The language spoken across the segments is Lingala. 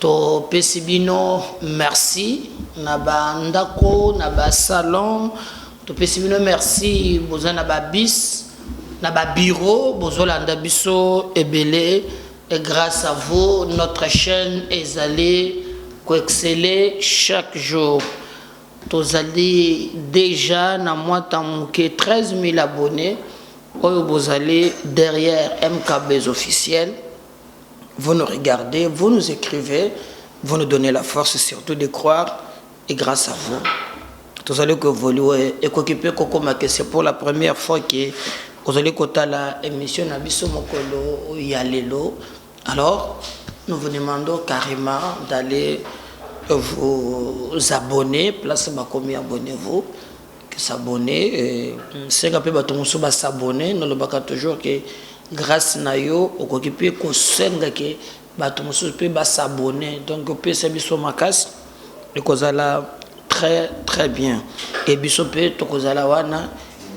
To pesi bino merci na ba ndako na ba salon to pesi bino merci boza na ba bis na ba bureau bozo landa biso ebele et grace à vous notre chaîne ezali ko exceller chaque jour tozali déjà na mwata moke 13000 abonnés oyo bozali derrière mkbs officiel vous nous regardez, vous nous ecrivez, vous nous donnez la force surtout de croire et grace à vous tozali ko evolue ekoki mpe kokoma ke c'est pour la première fois ke ozali kotala émission na biso mokolo ya lelo alors nous vous demandons carrément d'aller vous abonner place bakomi abonnez-vous s'abonner euh, senga mpe bato mosusu ba s'abonner nalobaka toujours ke grâce na yo okoki mpe kosenga ke bato mosusu mpe ba s'abonner donc opesa biso makasi ekozala très très bien e biso mpe tokozala wana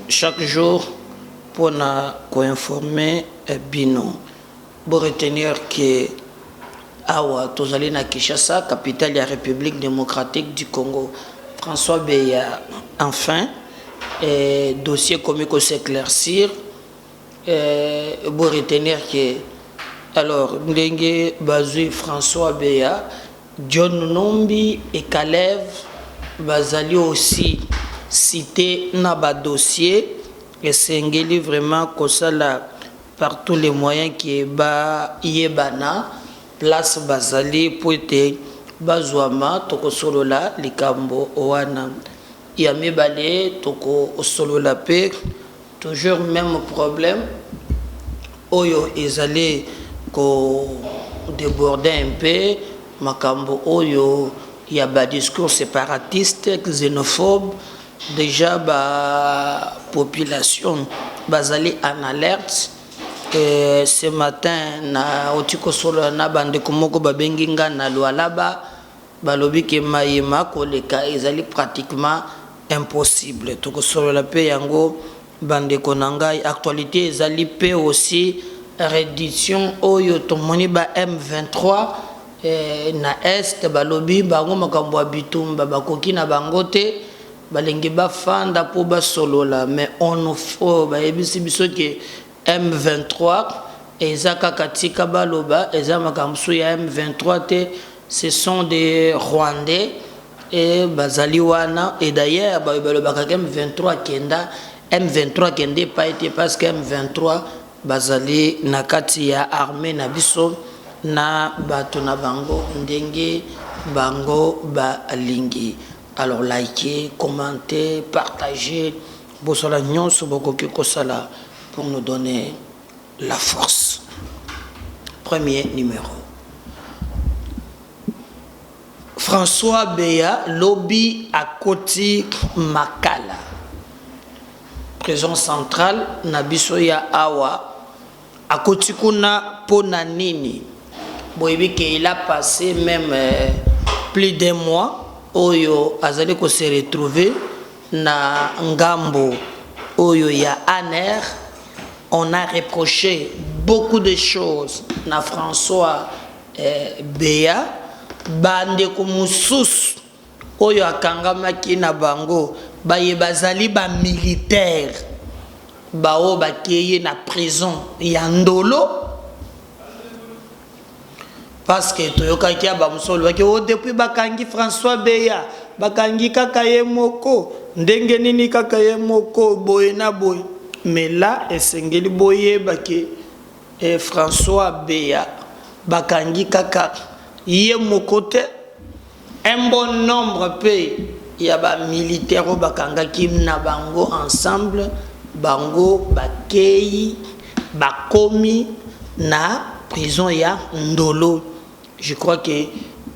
chaque jour mpona koinforme eh, bino Bo retenir que awa tozali na Kinshasa, capitale ya Republique democratique du Congo. François Beya, enfin dossier ekomi ko s'eclaircir. Bo retenir que alors ndenge bazui François Beya, John Numbi et Kalev bazali aussi cite na ba dossiers esengeli vraiment kosala par tout les moyens que ba yebana place bazali po ete bazuama toko solola likambo wana ya mibale toko solola pe toujours meme problème oyo ezali ko deborder un peu makambo oyo ya ba discours separatiste xenophobe Dejà ba population bazali en alerte ce matin na uti kosolola na ba ndeko moko babengi nga na Lualaba balobi ke maye makoleka ezali pratiquement impossible tokosolola pe yango Ba ndeko na ngai actualite ezali pe aussi redition oyo tomoni ba M23 na Est balobi bango makambo ya bitumba bakoki na bango te balingi bafanda po basolola mais onu bayebisi biso que M23 eza kaka tika baloba eza makambo mosusu ya M23 te Ce sont des rwandais et bazali wana et d'ailleurs bayo balobaka ke M23 akenda M23 akenda epayi te parce que M23 bazali na kati ya armee na biso na bato na bango ndenge bango balingi alors like commente partage bosala nionso bokoki kosala pour nous donner la force premier numero François Beya lobi akoti makala prison centrale na biso ya awa akoti kuna mpo na nini boyebi ke il a passé même euh, plus d'un mois oyo azali ko se retrouver Na ngambo oyo ya ANR, on a reproche beaucoup de choses na François Beya, ba ndeko mosusu oyo akangamaki na bango baye bazali ba militaires baoyo bakeyi na prison ya Ndolo, Parce que toyokaki ya ba mosusu balobaki oh depuis bakangi François Beya bakangi kaka ye moko ndenge nini kaka ye moko boye na boye mais là esengeli boyeba ke eh, François Beya bakangi kaka ye moko te Un bon nombre mpe ya ba militaires oyo bakangaki na bango ensemble, bango bakeyi bakomi na prison ya Ndolo. Je crois que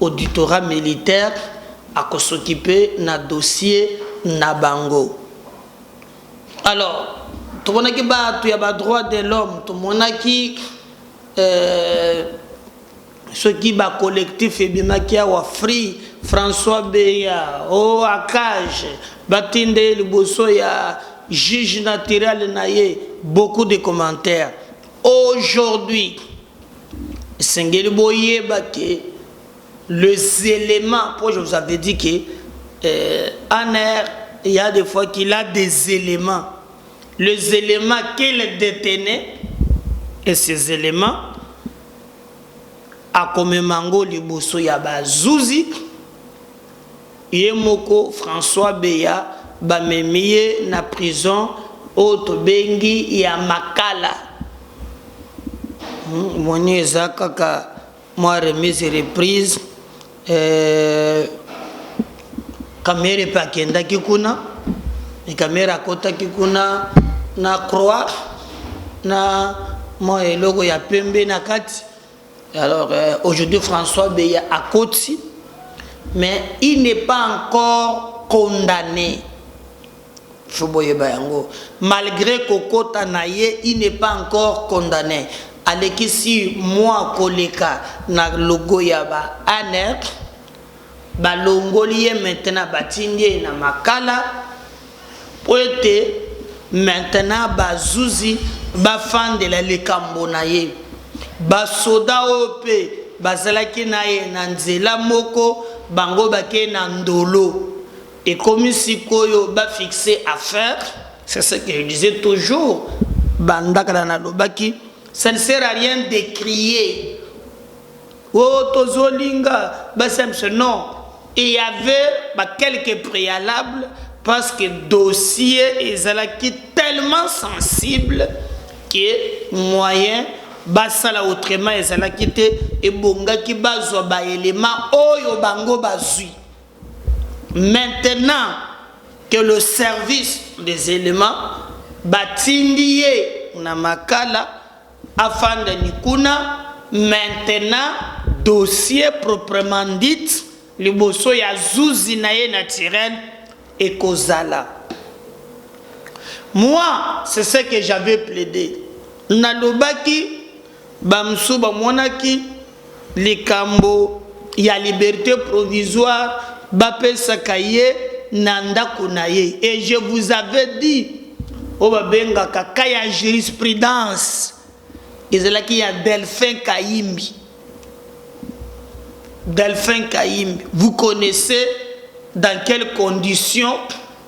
auditorat militaire ako s'occuper na dossier na bango. Alors, tomonaki batu ya ba droits de l'homme, tomonaki euh, Soki ba collectif ebimaki awa free François beya oh akaje batinda ye liboso ya juge naturel na ye beaucoup de commentaire aujourd'hui esengeli boyeba ke les elements po je vous avais dit ke eh, anr il y a des fois qu'il a des éléments les éléments qu'il détenait et ces éléments akomema yango liboso ya ba zuzi ye moko François Beya bamemi ye na prison oyo tobengi ya Makala omoni eza kaka mua remise reprise. Eh, kamere mpe akendaki kuna kamere akotaki kuna na croix na mwa eloko ya pembe na kati alors euh, aujourd'hui françois beya akoti mais il n'est pas encore condamné faut boyeba yango malgre kokota naye il ne pas encore condamne aleki six mois koleka na logo ya ba anr balongoli ye maintenant batindi ye na makala po ete maintenant ba zuzi bafandela likambo naye ba soda oyo pe bazalaki naye na nzela moko bango bake na ndolo Ekomi sikoyo ba fixe affaire, c'est ce que je disais toujours banda kala nalobaki ça ne sert à rien de crier oh tozolinga basi ya biso non il y avait ba quelques préalables parce que dossier ezalaki tellement sensible que moyen basala autrement ezalaki te ebongaki bazwa baelema oyo bango bazwi Maintenant que le service des elements batindi ye na makala afanda ni kuna maintenant dossier proprement dit liboso ya zuzi na ye naturel ekozala Moi c'est ce que j'avais plaide nalobaki Bamosusu bamonaki likambo ya liberte provisoire bapesaka ye na ndako na ye et je vous avais dit oyo babengaka cas ya jurisprudence ezalaki ya Delphin Kayimbi. Delphin Kayimbi, vous connaissez dans quelles conditions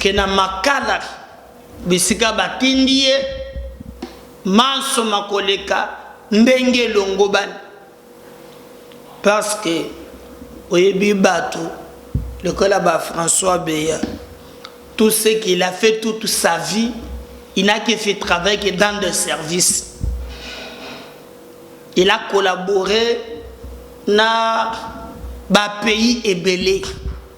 Ke na makala bisika batindi ye, manso makoleka ndenge elongobani. Parce que oyebi batu lokola ba François Beya, tout ce qu'il a fait toute sa vie, il n'a que fait travail que dans des services. Il a collaboré na ba pays ebele.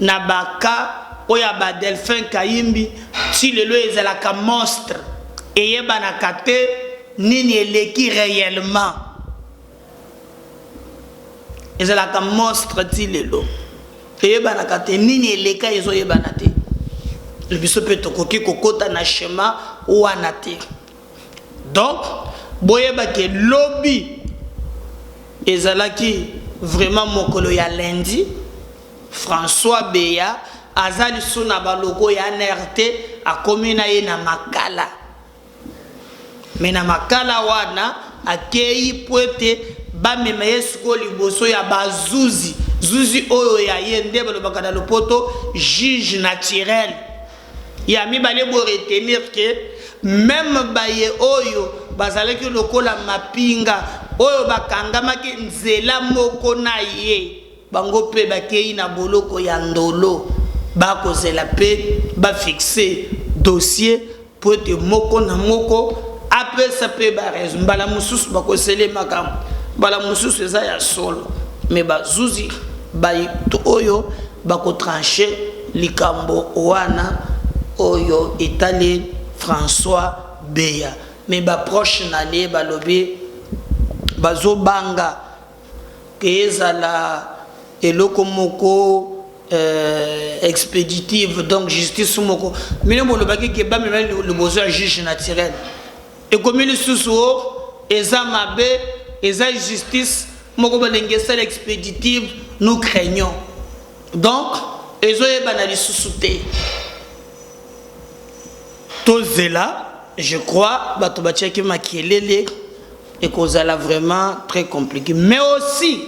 Na ba cas oyo ya ba Delphin Kahimbi ti lelo ezalaka monstre eyebanaka te nini eleki reellement. Ezalaka monstre ti lelo eyebanaka te nini eleka ezo yebana te. Biso pe tokoki kokota na schema wana te. Donc boyeba ke lobi ezalaki vraiment mokolo ya lundi, François Beya aza lisusu na ba locaux ya anr te, akomi na ye na Makala. Mais na Makala wana akeyi mpo ete bamema ye sikoyo liboso ya ba zuzi, zuzi oyo ya ye nde balobaka na lopoto juge naturel. Ya mibale, bo retenir que meme baye oyo bazalaki lokola mapinga oyo bakangamaki nzela moko na ye, bango mpe bakeyi na boloko ya Ndolo. Ba kozela mpe ba fixer dossier mpo ete moko na moko apesa mpe ba raisons. Mbala mosusu ba kosele makambo, mbala mosusu eza ya solo mais bazuzi bayi oyo, Bako trancher likambo wana oyo etali François Beya mais ba proches naye balobi bazo banga que ezala eloko moko expeditive donc justice moko bino bolobaki que bamema liboso ya juge naturel. Ekomi lisusu o eza mabe eza justice moko balingi esala expeditive nous craignons donc ezo yebana lisusu te tozela je crois bato batiaki makelele ekozala vraiment très compliqué mais aussi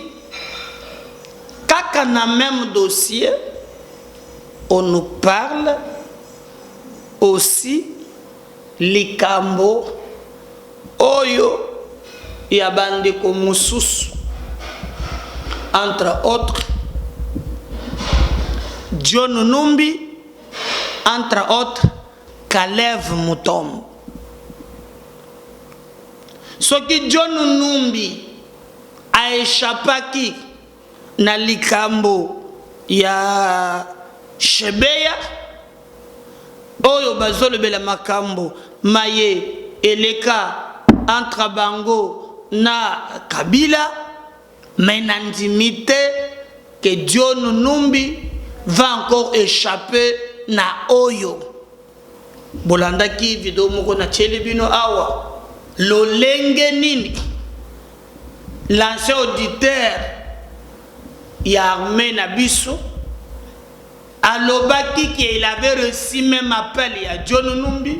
kaka na même dossier on nous parle aussi Likambo oyo ya ba ndeko mosusu entre autres John Numbi entre autres Kalev Mutombo. Soki John Numbi a echappaki Na likambo ya Shebeya, oyo bazolobela makambo maye eleka entre bango na Kabila, mais nandimi te que John Numbi va encore echapper na oyo. Bolandaki video moko natieli bino awa, lolenge nini L'ancien auditeur ya armee na biso alobaki que il avait reçu meme appel ya John Numbi,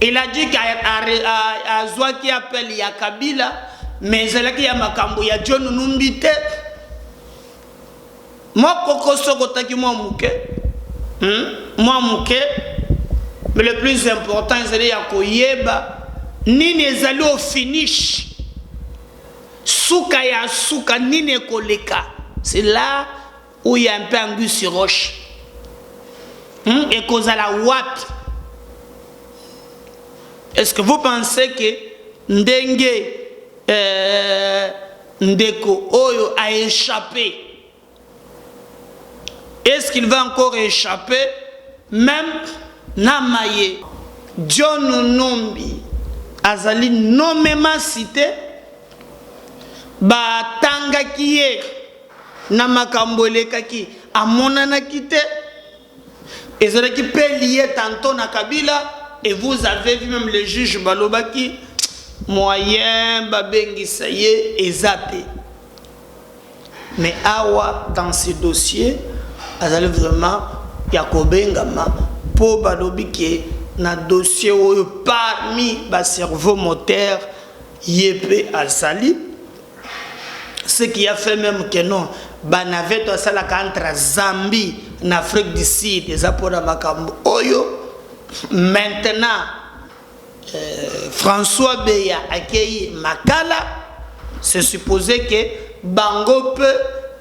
il a dit qu'azuaki appel ya Kabila mais ezalaki ya makambo ya John Numbi te. Moi koko sokotaki mwa moke hmm? mwa moke mais le plus important ezali ya koyeba nini ezali au finish suka ya suka nini ekoleka c'est là où il y a un peu anguille sur roche hmm? ekozala wapi est-ce que vous pensez que ndenge euh, Ndeko oyo a echapper est ce qu'il va encore echapper meme na maye? John Numbi azali nomement cite ba tangaki ye na makambo elekaki amonanaki te. Ezalaki mpe lie tantot na kabila et vous avez vu meme les juges balobaki moyen babengisa ye eza te mais awa dans ce dossier azali vraiment ya kobengama mpo balobi ke na dossier oyo parmi ba cerveau moteur ye mpe azali ce qui a fait meme que non ba navette oyo asalaka entre zambie na afrique du sud eza mpona makambo oyo maintenant euh, françois beya akei makala se supposé que bango mpe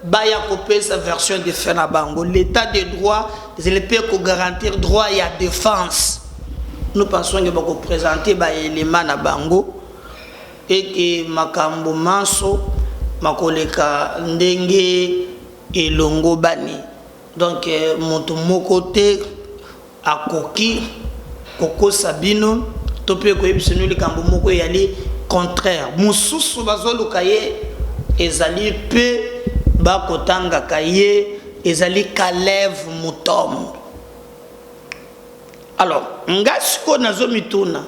baya kopesa version de fin na bango l'état de droit ezali mpe kogarantir droit ya défense nous pensons ke bakopresente baelema na bango Ete makambo manso makoleka ndenge elongobani. Donc moto moko te akoki kokosa bino to pe koyebisa bino likambo moko eyali contraire. Mosusu bazoluka ye ezali pe ba kotangaka ye ezali Kalev Mutond. Alors, ngai sikoyo nazomituna.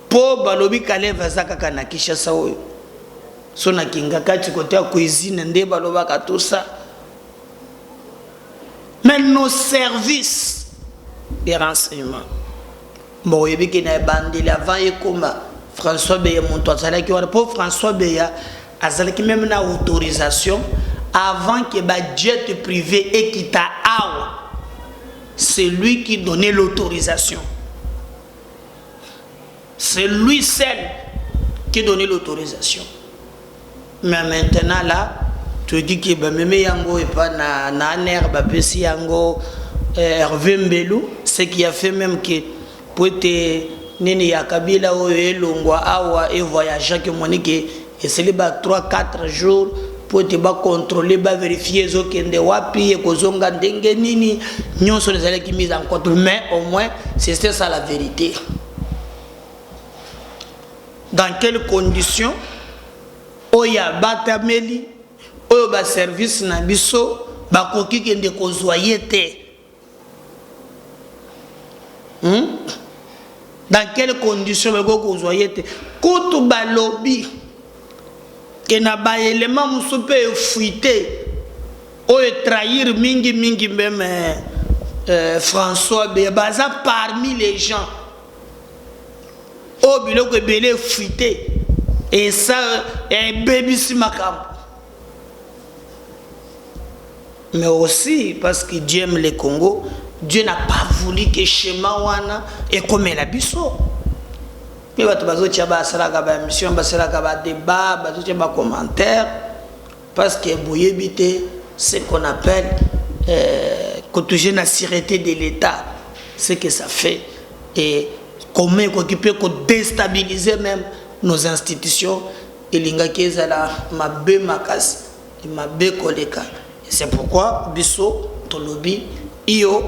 Po balobi kalev aza kaka na kishasa oyo so na kingakati kote ya cuisine nde balobaka tout ça mais nos services de renseignement mbo oyebi ke na ebandeli avant ekoma françois beya moto azalaki wana mpo françois beya azalaki meme na autorisation avant que ba jet privé ekita awa c'est lui qui donnait l'autorisation C'est lui seul qui donne l'autorisation. Mais maintenant là, tu dis que bameme yango et pas na na nerf bapesi yango eh, Hervé Mbelu, ce qui a fait même que pour être nini ya Kabila oyo elongwa awa et voyagea que moni que Esili ba trois quatre jours mpo ete ba controler, ba verifier ezokende wapi, ekozonga ndenge nini, nionso wana ezalaki mise en compte mais au moins c'etait ça la verite. Dans quelles conditions oyo abatameli, oyo ba services na biso bakoki kende kozua ye te? Hum? Dans quelle condition bakoki kozwa ye te kutu balobi ke na baelema mosusu mpe efuite oyo etrahir mingi mingi meme euh, françois be baza parmi les gens oyo biloko ebele efuite esa ebebisi makambo mais aussi parce que Dieu aime le Congo Dieu n'a pas voulu que schéma wana ekomela biso mpe bato bazotia basalaka ba émission basalaka ba débat bazotia ba commentaire parce que boyebi te ce qu'on appelle euh, kotouge na sûreté de l'état ce que ça fait et comment ekoki mpe kodestabilise même nos institutions Elingaki ezala mabe makasi, mabe koleka. Et c'est pourquoi biso tolobi iyo,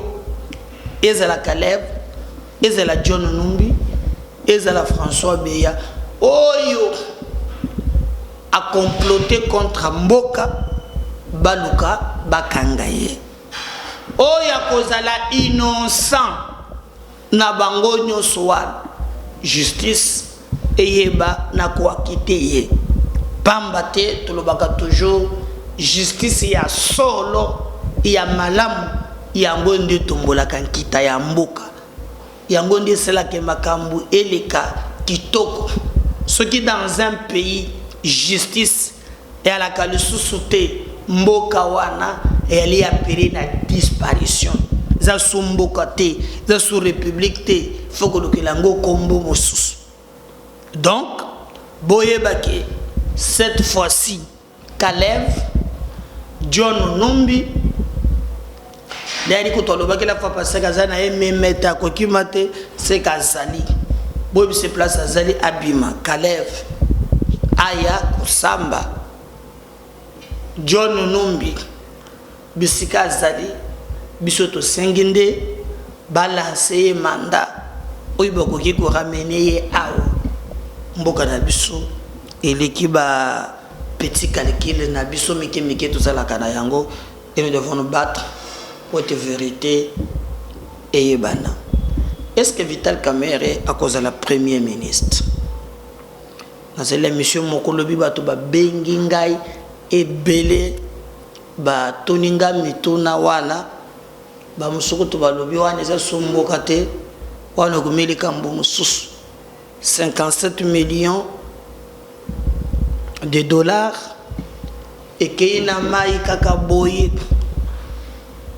ezala Caleb, ezala John Numbi, ezala François Beya oyo a comploter contre mboka, baluka bakanga ye. Oyo akozala innocent. Na bango nioso wana justice eyeba na ko acquitter ye pamba te tolobaka toujours justice ya solo ya malamu yango nde etombolaka nkita ya mboka yango nde esala ke makambu eleka kitoko soki dans un pays justice Ealaka lisusu te mboka wana eyali appeler na disparition eza su mboka te eza su republique te il faut kolukela yango kombo mosusu donc boyeba ke cette fois-ci Kalev John Numbi Dani kutu alobaki la fois passee aza na ye memete akokima te seke azali boyebise place azali abima kaleve aya kosamba john numbi bisika azali biso tosengi nde balanse ye manda oyo bakoki koramene ye awa mboka na biso eleki ba petit calcule na biso mike mike tozalaka na yango Et nous devons nous battre pour que verite eyebana. Est-ce que Vital Kamerhe akozala premier ministre? nazali na misio moko lobi bato babengi ngai ebele batuni nga mituna wana bamosuku to balobi wana eza somboka te wana okomeli kambo mosusu 57 millions de dollars ekeyi na mayi kaka boye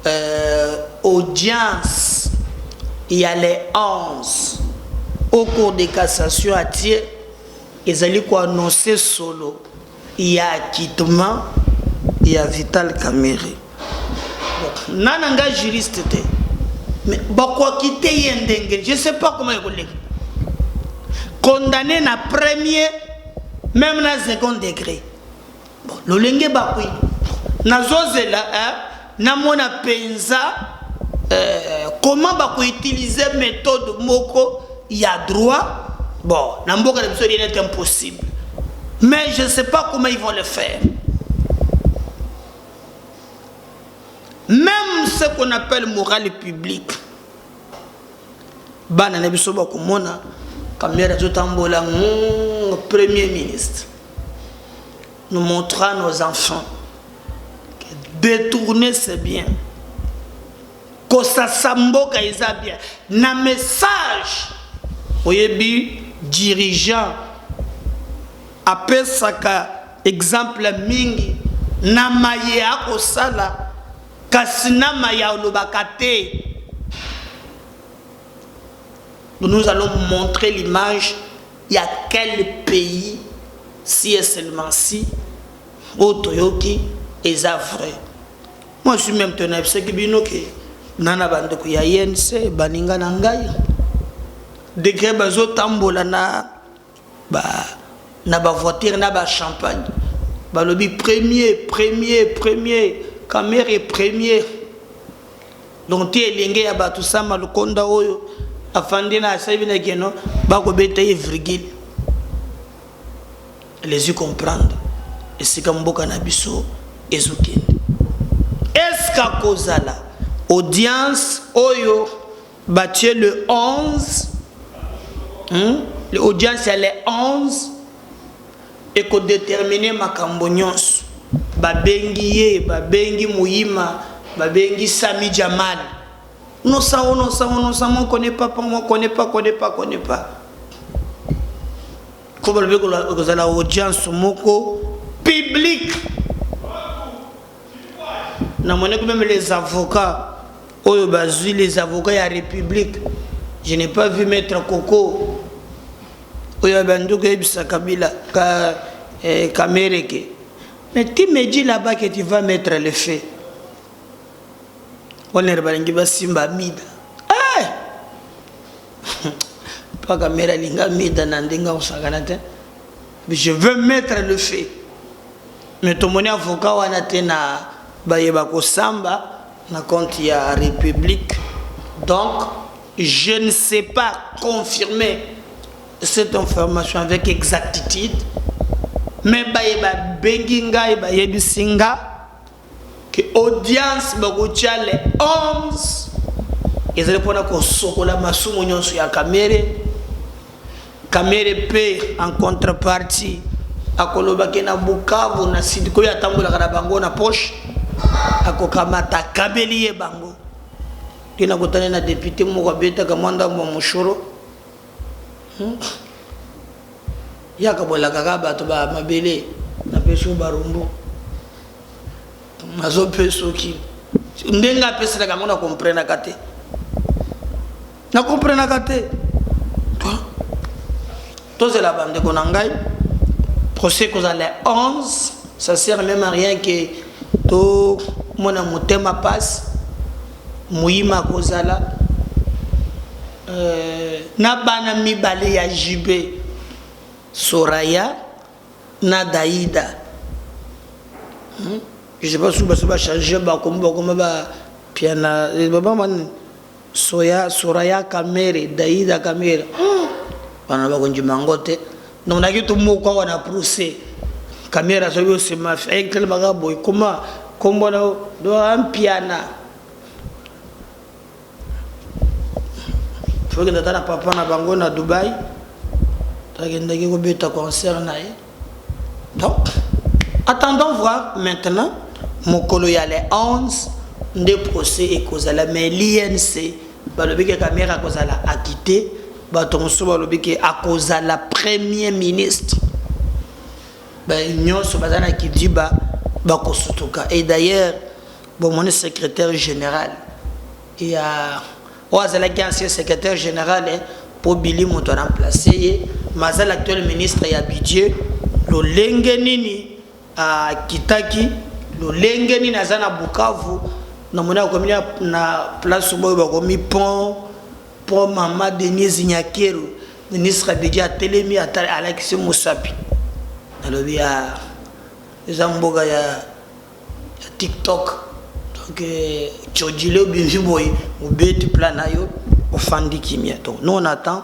euh, audience ya le 11 au cours de cassation atie ezali koannonce solo ya acquittement ya vital kamerhe na na nga juriste te mais bakoakite ye ndenge je sais pas comment ekoleka condamné na premier même na second degré bon lolenge bakoyi nazozela eh? Na mona penza euh comment ba ko utiliser methode moko ya droit bon na mboka na biso rien est impossible mais je ne sais pas comment ils vont le faire même ce qu'on appelle morale publique bana na biso bakomona kamera azotambola premier ministre Nous montrons à nos enfants que détourner c'est bien. Kosasa mboka eza bien. Na message oyebi dirigeant apesaka exemple mingi na maye akosala kasi na maye alobaka te Nous allons montrer l'image ya quel pays si et seulement si oyo toyoki eza vrai. Moi je suis meme te nayebisaki bino ke na na bandeko ya INC baninga na ngai degre bazotambola na Ba na ba voiture na ba champagne balobi premier premier premier kamerhe premier donc ti elenge ya batu sama lukonda oyo afandi na asabi na keno bakobeta ye virgule les comprendre esika mboka na biso ezokende eske akozala audience oyo Batie le 11 hum le audience ya le 11 eko determiner makambo nionso babengi ye babengi muyima babengi sami jamal nosa onosa onosa moi connais pas po moi connais pas connais pas connais pas ko balobi ekozala audience moko publique Na monaki meme les avocats oyo bazui les avocats ya republique je n'ai pas vu maître koko oyo abandi koyebisa kabila ka, eh, kamere ke mais tu me dis là-bas que tu vas mettre le feu onere balingi basimba mida hey! Eh! mpo kamere alinga mida na ndenge akosakana te je veux mettre le feu Mais tomoni avocat wana te na baye bakosamba na compte ya republique donc je ne sais pas confirmer cette information avec exactitude mais baye babengi ngai bayebisi nga Que audience bakotia le 11 ezali pona kosokola masumu nionso ya Kamere. Kamere pe en contrepartie akoloba ke na Bukavu na Sud koyo atambolaka na bango na poche akokamata akabeli ye bango. Nde nakutani na depute moko abetaka mwa ndambo ya moshoro. Hmm? yaka bolakaka bato ba mabele napesi yo barumbu nazopesoki ndenge apeselaka yango na komprenaka te na komprenaka te tozela bandeko na ngai procès kozala le 11 ça sert même à rien que tomona motema pasi moyima akozala Euh, na bana mibale ya JB, Soraya na Daida. Hmm? Je sais pas si baso ba changer ba comme ba comme ba piana eh, baba man soya soraya kamere daida kamere bana hmm. ba konji mangote donc na kitu moko wana procès kamera soki osema fekele baka boy koma kombo na do ampiana tokende ata na papa na bango na dubai takendaki kobeta concert na ye donc attendons voir maintenant mokolo ya le 11 nde procès ekozala mais l'inc balobi ke kamere akozala akite bato mosusu balobi ke akozala premier ministre nyonso baza na kidiba bakosutuka et d'ailleurs Bomoni secretaire general ya oyo azalaki ancien secretaire general eh, mpo Billy moto ana place ye, mais aza l'actuel ministre ya budget, lolenge nini akitaki, lolenge nini aza na Bukavu, namoni akomi na place boyo bakomi pont, pont mama Denise Nyakeru, ministre ya budget atelemi alakisi mosapi, nalobi ah eza mboka ya ya tiktok donc codile euh, obimi boye obeti plan na yo ofandi kimia donc nous on attend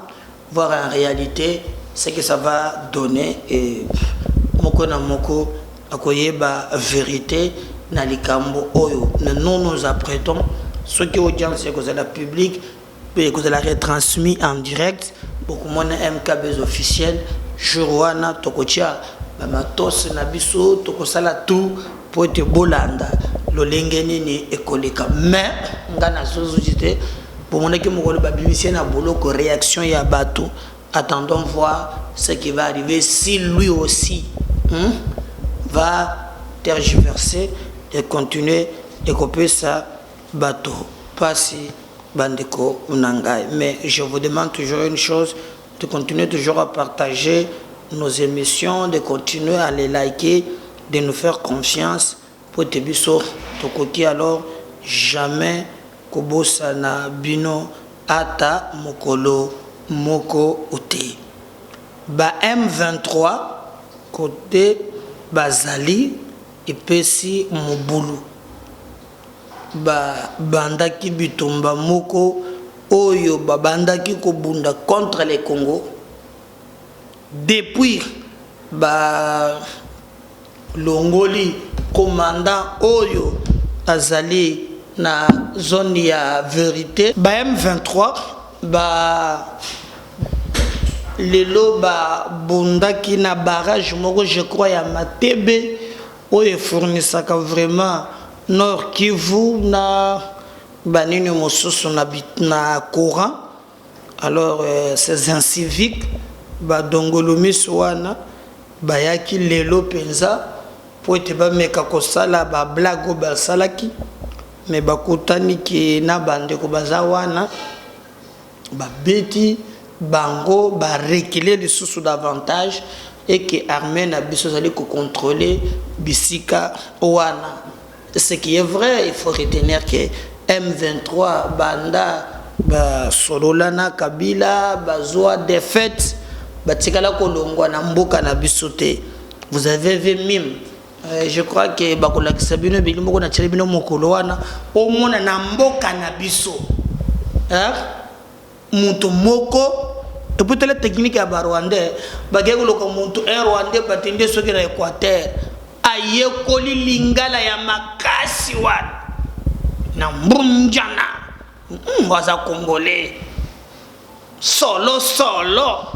voir en réalité ce que ça va donner et moko na moko akoyeba vérité na likambo oyo nous nous apprêtons soki audience ekozala publique Mpe ekozala retransmis en direct, bokomona MKbuzz Officiel, jour wana tokotia ba matos na biso, tokosala tout mpo ete bolanda lolenge nini ekoleka. Mais nga nazo zozite, bomonaki mokolo babimisi ye na boloko reaction ya batu, attendons voir ce qui va arriver si lui aussi hum va tergiverser et continuer et kopesa Bato pasi ba ndeko na ngai mais je vous demande toujours une chose de continuer toujours à partager nos emissions de continuer à les liker de nous faire confiance po ete biso tokoki alors jamais kobosana bino ata mokolo moko te ba M23 cote bazali epesi mobulu. ba bandaki bitumba moko oyo ba bandaki ko bunda contre le Congo depuis ba longoli commandant oyo azali na zone ya verite. Ba M23 ba lelo ba bundaki na barrage moko je crois ya Matebe. Oyo e fournisaka vraiment Nord Kivu na ba nini mosusu na courant alors ces inciviques ba dongolomiso wana bayaki lelo penza mpo ete bameka kosala ba blagues oyo basalaki mais bakutani que na ba ndeko baza wana. Ba beti bango ba reculer lisusu davantage et que armee na biso ezali ko controler bisika wana ce qui est vrai il faut retenir que M23 banda ba solola na Kabila bazua defaite batikala kolongua na mboka na biso te vous avez vu meme Eh, je crois que bakolakisa bino ebeli moko natyeli bino mokolo wana omona na mboka na biso eh, moto moko eputala teknike ya barwandais bakei koloka moto un rwandais bati nde soki na équateur ayekoli lingala ya makasi wana na mbunjana hmm, aza congolais solo solo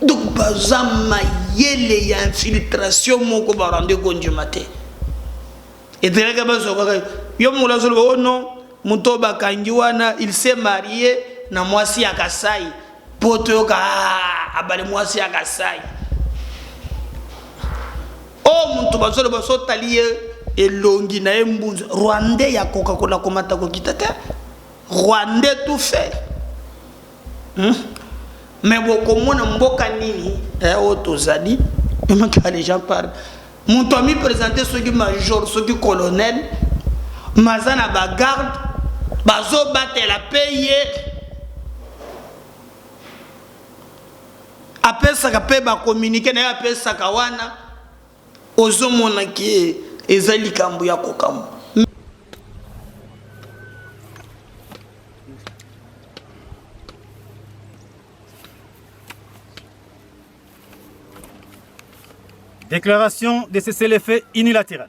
Donc baza mayele ya infiltration moko ba rende ko ndima te. Eteleka bazo kaka yo mola zolo oh non moto bakangi wana il s'est marié na mwasi ya Kasai po toyoka ah, abale mwasi ya Kasai. Oh moto bazolo baso tali ye elongi na ye mbunzu rwandais ya kokakola komata kokita te rwandais tout fait Hum? Mais bokomona mboka nini eh, oyo tozali emaka les gens parlent moto ami présente soki major soki colonel maza na bagarde bazobatela mpe ye apesaka mpe bakominike na ye apesaka wana Ozo mona que eza likambu ya ko kamwa. Declaration de cessez-le-feu unilateral.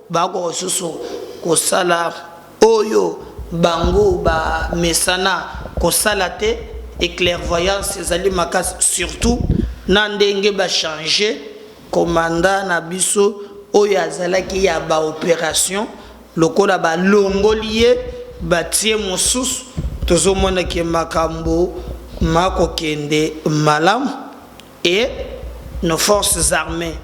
Bakoka lisusu kosala oyo bango bamesana kosala te et clairvoyance ezali makasi surtout na ndenge ba change commandant na biso oyo azalaki ya ba operation lokola ba longoli ye batie mosusu tozomona ke makambo makokende malamu. et nos forces armees,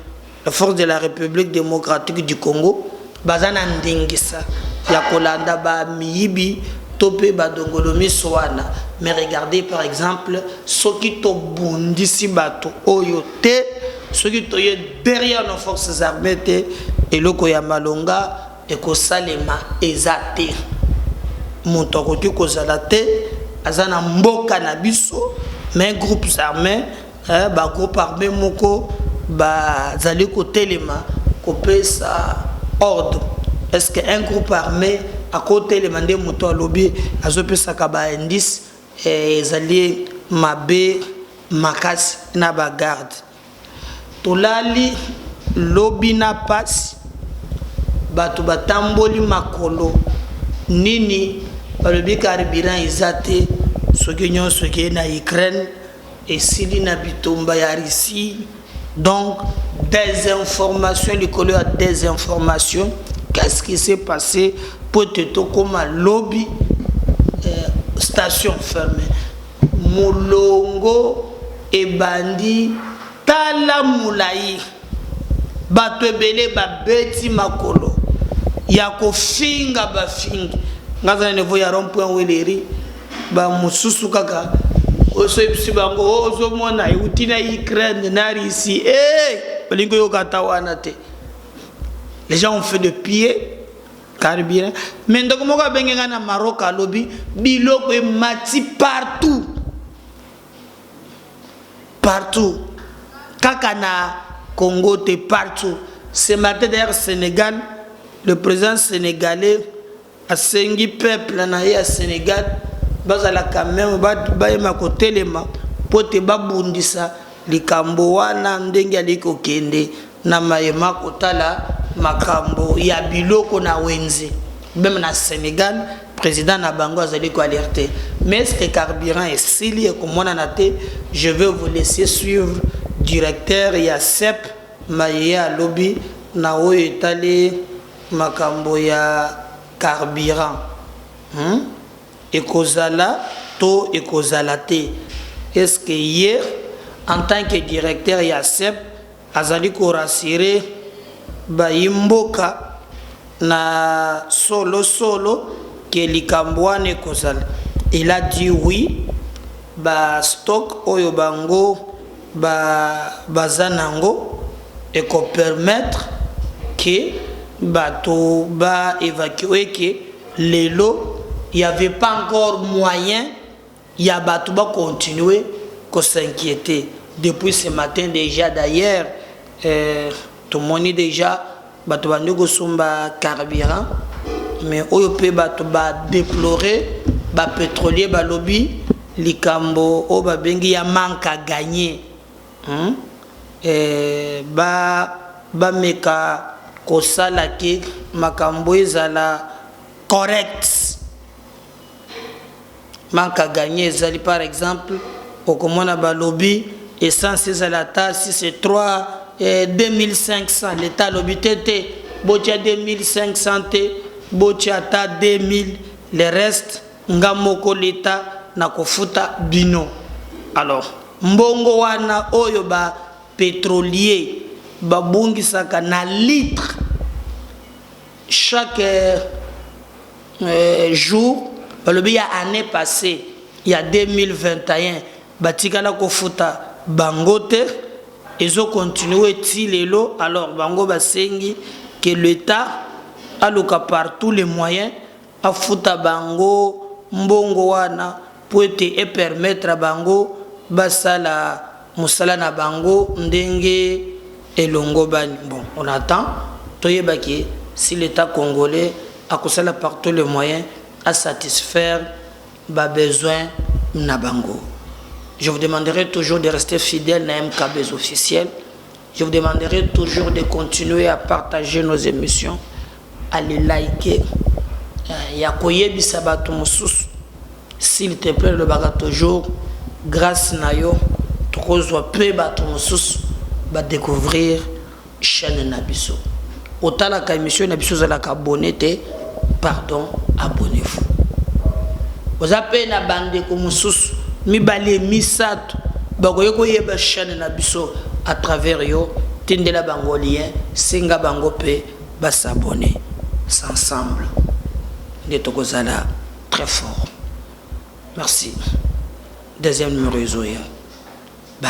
nos forces de la Republique democratique du Congo baza na ndingisa ya kolanda ba miyibi to pe ba dongolomiso wana, mais regardez par exemple soki tobundisi batu oyo te, soki toye derrière nos forces armees te, eloko ya malonga Ekosalema eza te mutu akoki kozala te aza na mboka na biso mais groupes armes eh, ba groupe arme moko bazali kotelema kopesa ordre est ce que un groupe armé akotelema nde moto alobi azopesaka ba indice eh, ezali mabe makasi na bagarde Tolali lobi na pasi batu batamboli makolo nini balobi carburant eza te soki nionso ekei na Ukraine esili na bitumba ya Russie donc desinformation likolo ya desinformation qu'est ce qui se passe po ete tokoma lobi station ferme. Molongo ebandi tala mulayi batu ebele ba beti makolo ya ko finga ba fingi nga aza na niveau ya rond point weleri ba mususu kaka oso yebisi bango oh, ozo mona euti na Ukraine na Russie eh balingi yoka ata wana te les gens ont fait de pied carburant mais ndeko moko abenge ngai na maroc alobi biloko emati partout partout kaka na congo te partout ce matin d'ailleurs sénégal le président sénégalais asengi peuple na ye ya sénégal bazalaka meme bayema kotelema mpo te babundisa Likambo wana ndenge alingi kokende na maye ma kotala makambo ya biloko na wenze meme na Senegal president na bango azali ko alerte mais est ce que carburant esili ekomonana te je veux vous laisser suivre directeur ya sep maye ye alobi na oyo etali makambo ya carburant. Ekozala to ekozala te? Est ce que ye en tant que directeur ya CEP azali ko rassurer bayi mboka na solo solo que likambo wana ekozala? Il a dit oui, ba stocks oyo bango baza nango eko permettre que batu ba evacuer que. Lelo il y avait pas encore moyen ya batu ba continuer ko s'inquieter depuis ce matin dejà d'ailleurs euh, tomoni dejà bato bandi kosomba carburant mais oyo mpe bato badeplore bapétrolier balobi likambo oyo babengi ya manque à gagner Hum eeh ba ba meka ko sala que makambo ezala correct manque à gagner ezali par exemple oko mona ba lobi essence ezala ata si c'est 3 eeh 2500 l'etat alobi te te botia 2500 te botia ata 2000 le reste Nga moko l'etat nako futa bino. Alors mbongo wana oyo ba petroliers ba bongisaka na litres chaque jour balobi ya annee passee ya 2021 batikala ko futa bango te ezo continuer ti lelo alors bango basengi que l'etat aluka par tous les moyens afuta bango mbongo wana mpo ete e permettre bango basala mosala na bango ndenge elongobani. Bon, on attend toyeba que si l'Etat congolais akosala par tous les moyens a satisfaire ba besoins na bango. Je vous demanderai toujours de rester fidèle na MKB's officiel. Je vous demanderai toujours de continuer à partager nos émissions, à les liker, euh, ya koyebisa bato mosusu. S'il te plaît, lobaka toujours grâce na yo tokozwa mpe bato mosusu ba découvrir chaîne na biso. Otalaka emission na biso ozalaka abonne te pardon abonnez vous oza mpe na bandeko mosusu mibale misato bakoki koyeba chaîne na biso à travers yo tindela bango lien senga bango mpe basabone ensemble nde tokozala très fort merci deuxième numéro ezoya bye